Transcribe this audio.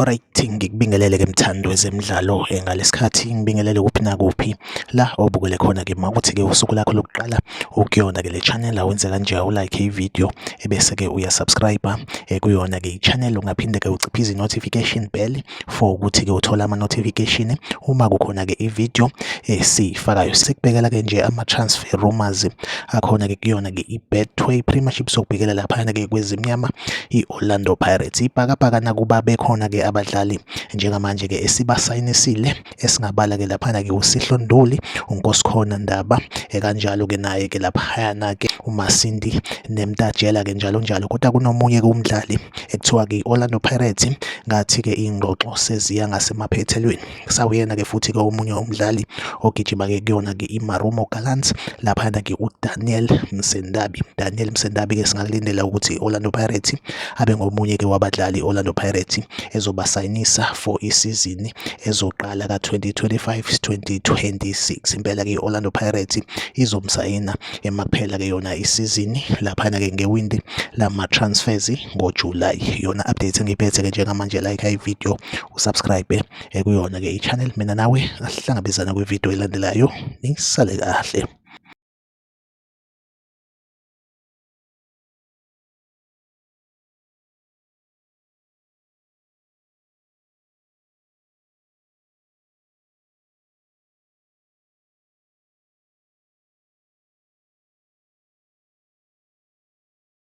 Alright, ngikubingelele ke mthandi wezemidlalo eh, ngalesikhathi ngibingelele kuphi nakuphi la obukele khona ke makuthi ke usuku lakho lokuqala ukuyona ke le channel awenze kanje ulike i video ebese ke uya subscribe eh, kuyona ke i channel ungaphinde ke uciphize notification bell for ukuthi ke uthola ama notification uma kukhona ke i video esifakayo eh, sikubekela ke nje ama transfer rumors akhona ke kuyona ke i betway premiership sokubhekela lapha ke kwezimnyama i Orlando Pirates. Ibhakabhaka nakuba bekhona ke abadlali njengamanje ke esibasayinisile esingabala ke laphana ke uSihlo Nduli, uNkosikhona Ndaba, ekanjalo ke naye ke laphana ke uMasindi Nemtajela ke njalo njalo. Kodwa kunomunye ke umdlali ekuthiwa ke Orlando Pirates ngathi ke ingxoxo seziya ngasemaphethelweni. sawuyena-ke futhi-ke omunye umdlali ogijima-ke kuyona-ke imarumo gallants laphayana-ke udaniel msendabi daniel msendabi-ke singakulindela ukuthi i-orlando pirates abe ngomunye-ke wabadlali i-orlando pirates ezobasayinisa for isizini ezoqala ka-2025 2026 impela-ke i-orlando pirates izomsayina emakuphela-ke yona isizini laphayana-ke ngewindi lama-transfers ngojulayi yona update engiyiphethe-ke njengamanje like ivideo usubscribe eh, kuyona ke i-channel mina nawe asihlangabezana kwividiyo elandelayo nisale kahle